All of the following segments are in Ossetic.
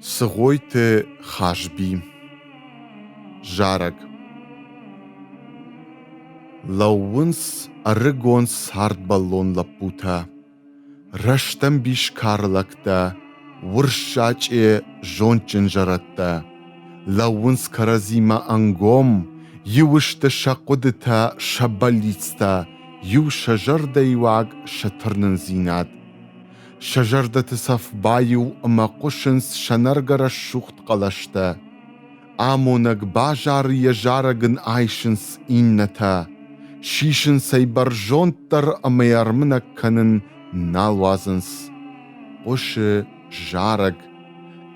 Цыгъойты Хазби Зарӕг Лӕууынц ӕрыгон цардбӕллон лӕппутӕ, Рӕстӕмбис кары лӕгтӕ, Урссачъе зондджын зӕрӕдтӕ. Лӕууынц кӕрӕдзимӕ ӕнгом, Иу сты сӕ хъуыдытӕ, сӕ бӕллицтӕ, Иу сӕ зӕрдӕйыуаг, сӕ тырнындзинад. Сӕ зӕрдӕты цӕф баиу ӕмӕ хъуысынц сӕнӕргӕ рӕсугъд хъӕлӕстӕ. Амонӕг базары йӕ зарӕг ын айсынц иннӕтӕ, сисынц ӕй бӕрзонддӕр ӕмӕ йӕ ӕрмынӕг кӕнын нал уадзынц. Хъуысы зарӕг,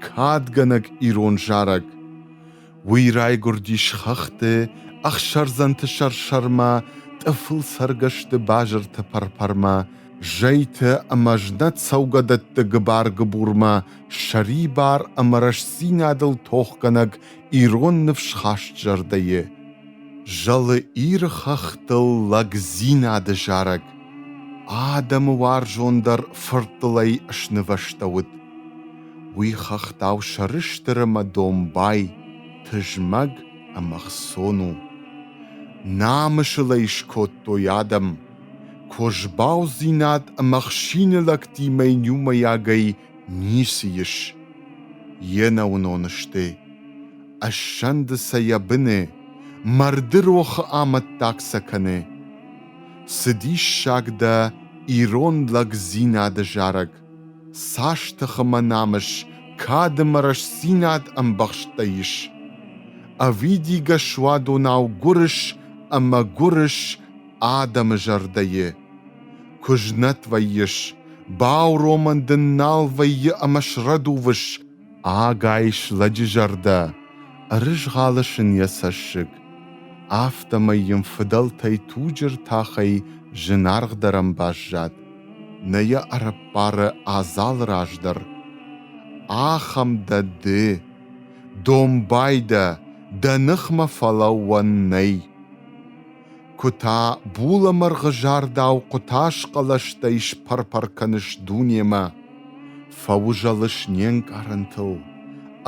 кадгӕнӕг ирон зарӕг. Уый райгуырдис хӕхты, ӕхсӕрдзӕнты сӕр-сӕрмӕ, тъыфыл цӕргӕсты базырты пӕр-пӕрмӕ, зӕйты ӕмӕ знӕт цӕугӕдӕтты гыбар-гыбурмӕ сӕрибар ӕмӕ рӕстдзинадыл тохгӕнӕг ирон ныфсхаст зӕрдӕйы. Зӕлы Иры хӕхтыл лӕгдзинады зарӕг адӕмы уарзондӕр фырттылӕй снывӕстӕуыд. Уый хӕхтау сӕрыстыр ӕмӕ домбай, тызмӕг ӕмӕ ӕхцон у. Намысыл ӕй скодтой адӕм. Козбаудзинад ӕмӕ ӕхсины лӕгтимӕ иумӕйагӕй ницы ис. Йе нӕуынон сты. Ӕссӕнды сӕ йӕ быны, марды рохы амӕттаг сӕ кӕны. Цы диссаг дӕ ирон лӕгдзинады зарӕг! Цас тыхымӕ намыс, кад ӕмӕ рӕстдзинад ӕмбӕхстӕй ис! Ӕвидигӕ суадонау гуырыс ӕмӕ гуырыс адӕмы зӕрдӕйы. Куы знӕт вӕййыс, бауромӕн дын нал вӕййы ӕмӕ срӕдувыс, Ӕгайс лӕджы зӕрдӕ ӕрызгъӕлыс ын йӕ цӕссыг, афтӕмӕй йын фыдӕлтӕй туджы ртахӕй зынаргъдӕрӕн баззад, нӕ йӕ ӕрӕппары адзалы раз дӕр. Ахӕм дӕ ды, домбай дӕ, дӕ ныхмӕ фӕлӕууӕн нӕй. Куы та булӕмӕргъызардау хъуытазхъӕлӕстӕй спӕр-пӕр кӕныс дунемӕ. Фӕузӕлыс не нкъарӕнтыл,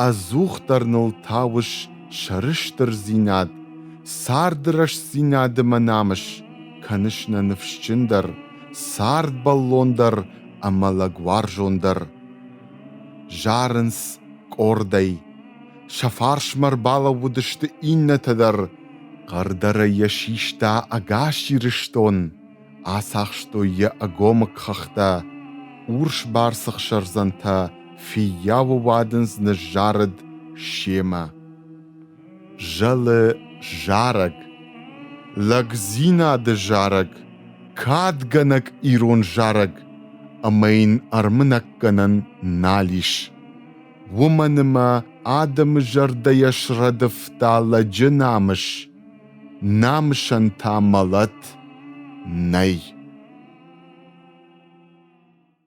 ӕдзухдӕр ныл тауыс сӕрыстырдзинад, царды рӕстдзинады мӕ намыс, кӕныс нӕ ныфсджындӕр, цардбӕллондӕр ӕмӕ лӕгуарзондӕр. Зарынц къордӕй. Сӕ фарсмӕ ӕрбалӕууыдысты иннӕтӕ дӕр. Хъӕрдӕрӕй йӕ систа ӕгас Ирыстон, ацахстой йӕ ӕгомыг хӕхтӕ, урсбарц ӕхсӕрдзӕнтӕ фыййауы уадындз ныззарыд семӕ. Зӕлы зарӕг, лӕгдзинады зарӕг, кадгӕнӕг ирон зарӕг ӕмӕ йын ӕрмынӕггӕнӕн нал ис. Уымӕн ӕмӕ адӕмы зӕрдӕйӕ срӕдывта лӕджы намыс. Намысӕн та мӕлӕт нӕй.